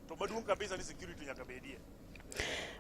To maduong' kabisa ni security nyaka bedie.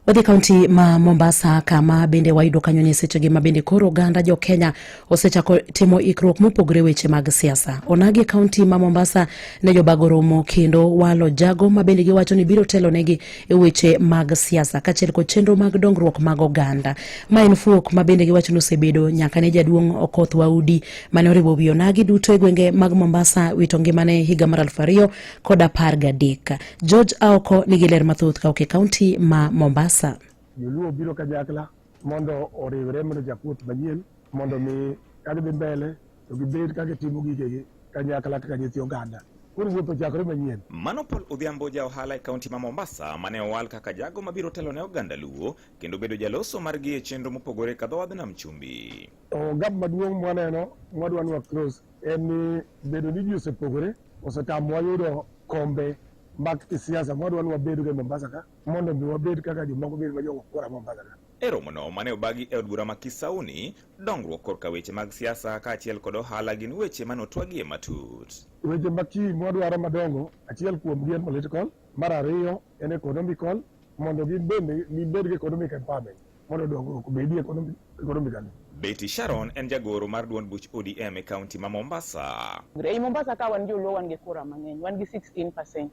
Wadhi kaunti ma Mombasa kama bende wayudo kanyo ni sechegi ma bende koro oganda jo Kenya osechako timo ikruok mopogore weche mag siasa. Onagi kaunti ma Mombasa ne jobago romo kendo walo jago ma bende giwacho ni biro telo negi e weche mag siasa kachiel kod chenro mag dongruok mag oganda. Ma en fuok ma bende giwacho ni osebedo nyaka ne jaduong' Okoth Waudi mane oriwo wi onagi duto e gwenge mag Mombasa wito ngimane higa mar aluf ariyo kod apar gadek. George Aoko nigi ler mathoth ka oke kaunti ma Mombasa. Joluo biro kanyakla mondo oriwre mondo jakuoth manyien mondo mi kagidhi mbele to gibed ka gitimo gigegi kanyakla kaka nyithi oganda koro wuoth ochakore manyien. Mano Paul Odhiambo ja ohala e kaunti ma Mombasa mane owal kaka jago mabiro telo ne oganda Luo kendo bedo jaloso margi e chenro mopogore ka dhowadh Nam Chumbi. Ogap maduong' mwaneno mwadwa nwa close en ni bedo ni ji osepogore Osetamowa yudo kombe mag kisiasa mwadwa ni wabedgo e Mombasa ka mondo mi wabed kaka jomoko bed ma jogo kura Mombasa ka. E romono mane obagi e od bura ma Kisauni, dongruok korka weche mag siasa kaachiel kod ohala gin weche mane otwagie matut. Weche ma kii mwadwaro madongo, achiel kuomgi en political, mar ariyo en economical mondo gibende gibed gi economic empowerment. mondo dongruok obedi ekonomikali. Betty Sharon en jagoro mar duond buch ODM e kaunti ma Mombasa. Ei Mombasa ka wan joluo wan gi kura mang'eny, wan gi 16%.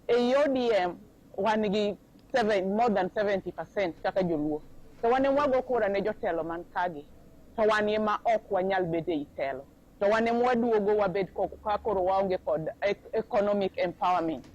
Ei ODM wan gi seven, more than 70% kaka joluo. To wan emwago kura ne jotelo man kagi. To wan ema ok wanyal bedo ei telo. to wan ema waduogo wabed ka koro waonge kod economic empowerment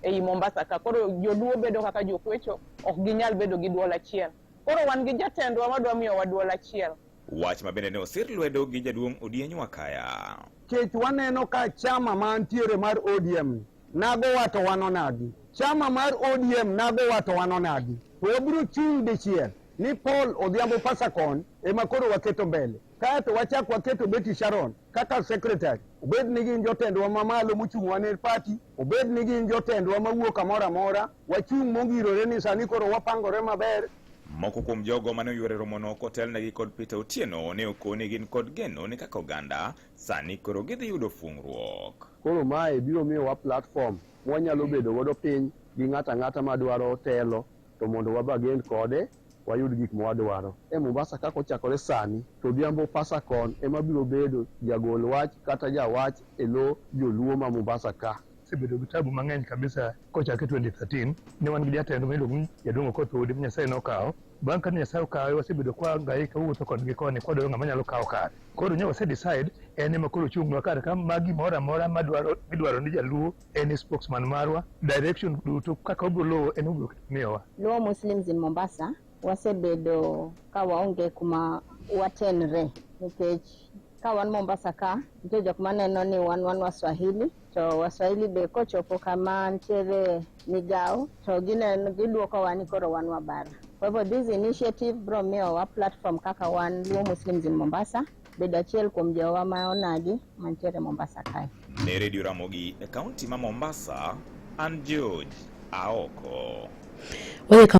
ei Mombasa ka. Koro joluo bedo kaka jokwecho, ok ginyal bedo gi duol achiel. Koro wan gi jatendwa madwa miyowa duol achiel. Wach ma bende ne osir lwedo gi jaduong' Odieny Wakaya. Kech waneno ka chama mantiere mar ODM nago wato wano nagi. Chama mar ODM nago wato wano nagi. To wabiro chung' dichiel ni Paul Odhiambo Pasakon ema koro waketo mbele. Kae to wachak waketo Betty Sharon kaka secretary, obed ni gin jotendwa mamalo mochung'wa ne party, obed ni gin jotendwa mawuok kamoro amora, wachung' mongirore ni sani koro wapangore maber Moko kuom jogo mane oyuore romono kotelnegi kod Peter Otieno ne okoni gin kod geno ni kaka oganda sani koro gidhi yudo fungruok. Koro mae biro miyowa platform mwanyalo bedo godo piny gi ng'ata ng'ata madwaro telo to mondo wabagend kode wayud gik ma wadwaro e Mombasa kaka ochakore sani to odhiambo Pasacon ema biro bedo jagol wach kata jawach e lo joluo ma Mombasa ka osebedo gi tabu mang'eny kabisa kochakre 2013 ne wan gi jatendwa miluongo ni Jaduong' Okoth Udi ma Nyasaye nokawo bang' kane Nyasaye okawe wasebedo kwa ngaika wuotho kodgi koni kwadwaro ng'ama nyalo kawo kare koro nyo wase decide en ema koro ochungnwa kar ka ma gimoro amora madwaro midwaro ni jaluo any spokesman marwa direction duto kaka obiro luwo en obiro miyowa. Luo Muslims in Mombasa wasebedo ka waonge kuma watenre nikech ka wan Mombasa ka nitie jok maneno ni wan wan Waswahili to Waswahili be kochopo kama nitiere migawo to gineno gidwokowa ni koro wan Wabara. Kwa hivyo this initiative biro miyowa platform kaka wan Luo Muslims in Mombasa bedo achiel kuom jowa ma onagi mantiere Mombasa kae. Ne Radio Ramogi e kaunti ma Mombasa, an George Aoko.